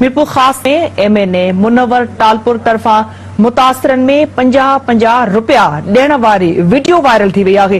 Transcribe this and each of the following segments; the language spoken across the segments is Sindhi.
Mirpurkhas ۾ M N A Munawar Talpur طرفان متاثرن ۾ پنجاهه پنجاهه رپيا ڏيڻ واري وڊيو وائرل ٿي وئي آهي.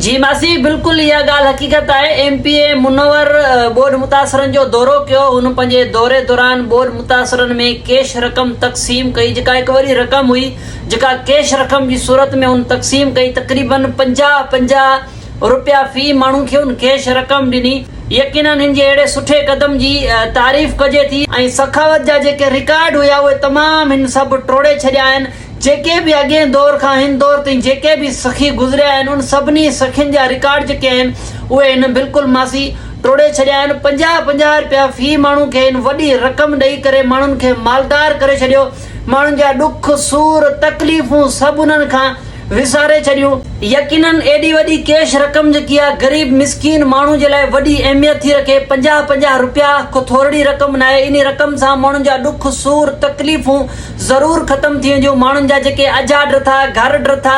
جي ماسي بلڪل اها ڳالهه حقيقت آهي ايم پي اي منور ٻوڏ متاثرن جو دورو ڪيو هن پنهنجي دوري دوران ٻوڏ متاثرن ۾ ڪيش رقم تقسيم ڪئي جيڪا هڪ وڏي رقم هئي جيڪا ڪيش رقم جي صورت ۾ هن تقسيم ڪئي تقريبن پنجاهه پنجاهه رپيا في ماڻهو کي ان ڪيش رقم ڏني يقينن هن جي اهڙي سٺي قدم جي تعريف ڪجي ٿي ۽ سخاوت جا جيڪي رڪارڊ هيا اهي تمام هن سڀ ٽوڙي ڇڏيا آهن جيڪي به اڳئين دور کان هن دور تائين جيڪي به سخي گذريا آهن ان سڀني سخين جا رڪارڊ جيڪي آهن اهي هن بلڪل ماسي ٽوڙي ڇڏيا آهن پنجاهه پنجاهه رپيا في ماڻهو کي هن وڏي رقم ڏئي ڪري ماڻهن کي مالدار ڪري ڇڏيو ماڻهن جا ڏک، سور، تڪليفون سڀ انهن کان وساري ڇڏيون. يقينن ايڏي وڏي ڪيش رقم جيڪي آ غريب مسڪين ماڻهو جي لاء وڏي اهميت ٿي رکي. پنجاهه پنجاهه رپيا ڪو ٿورڙي رقم ناهي. انهي رقم سان ماڻهن جا ڏک، سور، تڪليفون ضرور ختم ٿي وينديون. ماڻهن جا جيڪي اجها ڊٿا، گهر ڊٿا،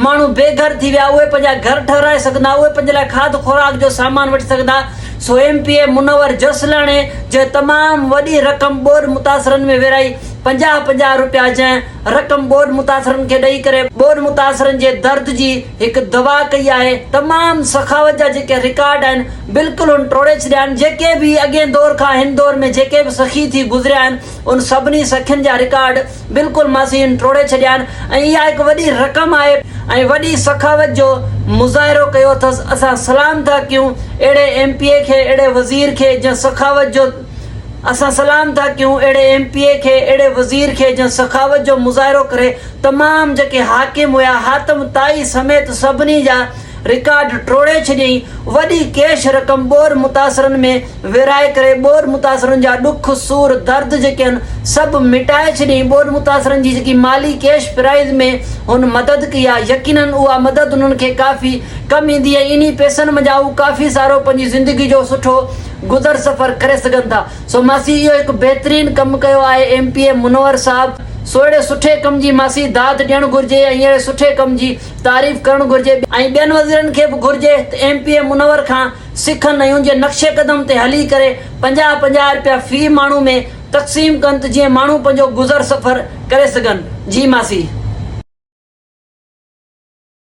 ماڻهو بي گهر ٿي ويا اهي پنهنجا گهر ٺهرائي سگهندا، اهي پنهنجي لاء کاڌ خوراڪ جو سامان وٺي سگهندا، سو M P A Munawar Jaslani جنهن تمام وڏي رقم ٻوڏ متاثرن ۾ ورهائي پنجاهه پنجاهه رپيا جنهن رقم ٻوڏ متاثرن کي ڏئي ڪري ٻوڏ متاثرن جي درد جي هڪ دوا ڪئي آهي تمام سخاوت جا جيڪي رڪارڊ آهن بلڪل هن ٽوڙي ڇڏيا آهن جيڪي به اڳئين دور کان هن دور ۾ جيڪي به سخي ٿي گذريا آهن ان سڀني سخين جا رڪارڊ بلڪل ماسي ان ٽوڙي ڇڏيان ۽ اها هڪ وڏي رقم آهي ۽ وڏي سخاوت جو مظاهرو ڪيو اٿس اسان سلام ٿا ڪيون اهڙي ايم پي اي کي اهڙي وزير کي جنهن سخاوت جو اسان سلام ٿا ڪيون اهڙي ايم پي اي کي اهڙي وزير کي جنهن سخاوت جو مظاهرو ڪري تمام جيڪي حاڪم هيا حاتم طائي سميت سڀني جا رڪارڊ ٽوڙي ڇڏيائين وڏي ڪيش رقم ٻوڏ متاثرن ۾ ورهائي ڪري ٻوڏ متاثرن جا ڏک، سور، درد جيڪي آهن سڀ مٽائي ڇڏيائين، ٻوڏ متاثرن جي جيڪي مالي ڪيش پرائيز ۾ هن مدد ڪئي آهي يقيناً اها مدد انهن کي ڪافي ڪم ايندي ۽ انهي پئسن منجهان هو ڪافي سارو پنهنجي زندگي جو سٺو گذر سفر ڪري سگهن ٿا سو ماسي اهو هڪ بهترين ڪم ڪيو آهي ايم پي اي منور صاحب سو اهڙي سٺي ڪم جي ماسي داد ڏيڻ گهرجي ۽ اهڙي سٺي ڪم جي تعريف ڪرڻ گهرجي ۽ ٻين وزيرن کي به گهرجي ته ايم پي اي منور کان سکن ۽ ان جي نقش قدم تي هلي ڪري پنجاهه پنجاهه رپيا في ماڻهو ۾ تقسيم ڪن ته جيئن ماڻهو پنهنجو گذر سفر ڪري سگهن جي ماسي.